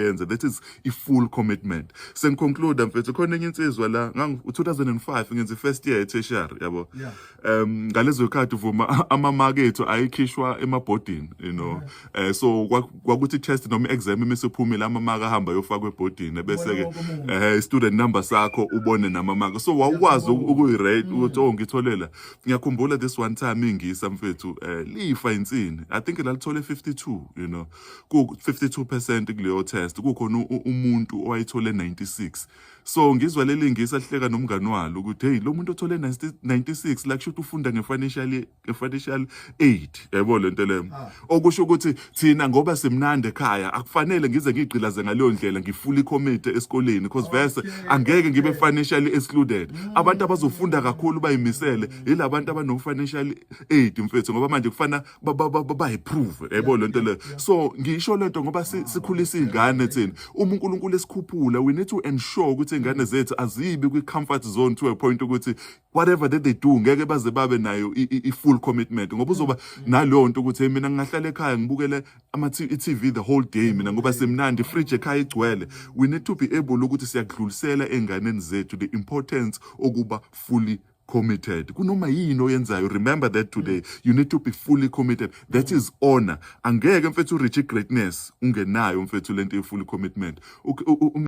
usebenze that is i full commitment sengiconclude mfethu khona enye insizwa la ngang 2005 ngenza first year tertiary yabo um ngalezo khathi uvuma ama mark ethu ayikhishwa emabhodini you know eh so kwakuthi test noma exam emesephumile ama mark ahamba yofakwa ebhodini bese ke eh student number sakho ubone nama mark so wawukwazi ukuyi rate mm. ukuthi oh ngitholela ngiyakhumbula this one time ingisa mfethu eh lifa insini i think lalithole 52 you know ku-52 percent kuleyo test kukhona umuntu owayethole 96 so ngizwa leli ngisa lihleka nomngani walo ukuthi hey lo muntu othole 96 la kusho ukuthi ufunda nge-financial nge-financial aid yayibona le nto leyo ah. okusho ukuthi thina ngoba simnandi ekhaya akufanele ngize ngigqilaze ngaleyo ndlela ngifule ikhomiti esikoleni because verse angeke ngibe financially excluded mm. abantu abazofunda kakhulu bayimisele yila bantu abano-financial aid mfethu ngoba manje kufana bayiprove yebo lento le so ngisho lento ngoba sikhulisa izingane thina uma uNkulunkulu esikhuphula we need to ensure ukuthi izingane zethu azibi kwi comfort zone to a point ukuthi whatever that they do ngeke baze babe nayo i full commitment ngoba uzoba mm. naleyo nto ukuthi mina ngingahlala ekhaya ngibukele ama TV the whole day mina ngoba mm. semnandi fridge ekhaya igcwele we need to be able ukuthi siyakudlulisela enganeni zethu the importance okuba fully committed kunoma yini oyenzayo remember that today you need to be fully committed that is honor angeke mfethu reach greatness ungenayo mfethu lento ye fully commitment